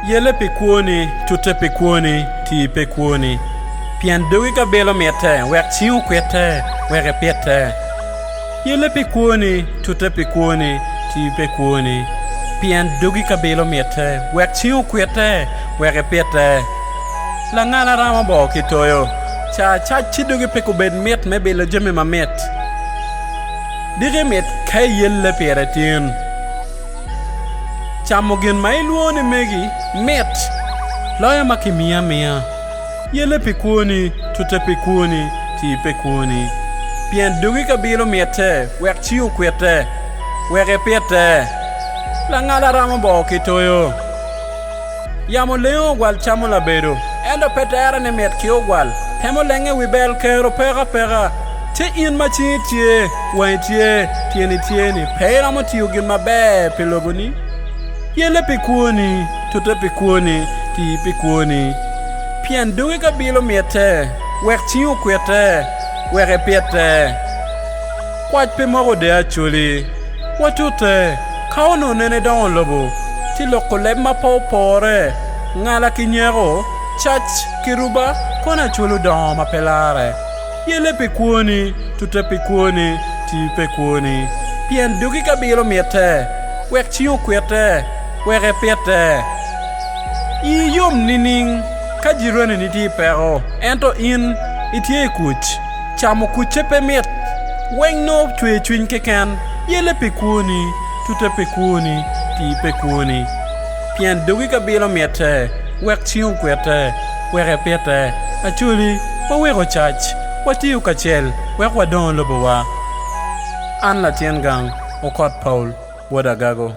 Yelle pi kwoni, tute pi kwoni, ti pe kwoni, pien dogi ka bilo mitte, wek cing okwitte, wek ipite. Yelle pi kwoni, tute pi kwoni, ti pe kwoni, pien dogi ka bilo mitte, wek cing okwitte, wek ipite. Langala ramo bor ki toyo, ca acac ci dogi pe kubed mit me bilo jami mamit. Diki mit ka iyelle pire tin. Camo gin ma ilwongo ni megi mit loyo ma kimiyo amiya. Yelle pi kwoni, tute pi kwoni, ci ipe kwoni. Pien dogi kabilo mitte wek ci okwitte, wek ipite. Langala ramo boo ki toyo. Yamo lengo ogwal camo labedo, ento pe tera ni mit ki ogwal. Temo lenge wi bel kero peko apeka. Ci in ma cingi tye, wangi tye, tyeni tye-ni, pe iromo tiyo gin maber pi loboni? Yelle pi kwoni, tute pi kwoni, ti pi kwoni. Pien dogi ka bilo mitte, wek cingi okwitte, wek ipitte. Kwac pe moko de Acholi. Watute, ka onongo nene dongo lobo tye loko leb ma pe opore, ngala ki nyeko, cac ki ruba, kono Acholi dongo ma pe larre. Yelle pi kwoni, tute pi kwoni, tii pe kwoni. Pien dogi ka bilo mitte, wek cing okwitte, wek epitte. Ii yom nining ka jiraneni tye i peko, ento in itye i kuc? Camo kucce pe mit. Weng nongo cwer cwiny keken, yelle pe kwoni, tute pe kwoni, tii pe kwoni. Pien dogi ka bilo mitte, wek cing okwete, wek epite, acoli, waweko cac, watiyo kacel wek wadongo lobowa. An latin gang, okot Paul, bot agago.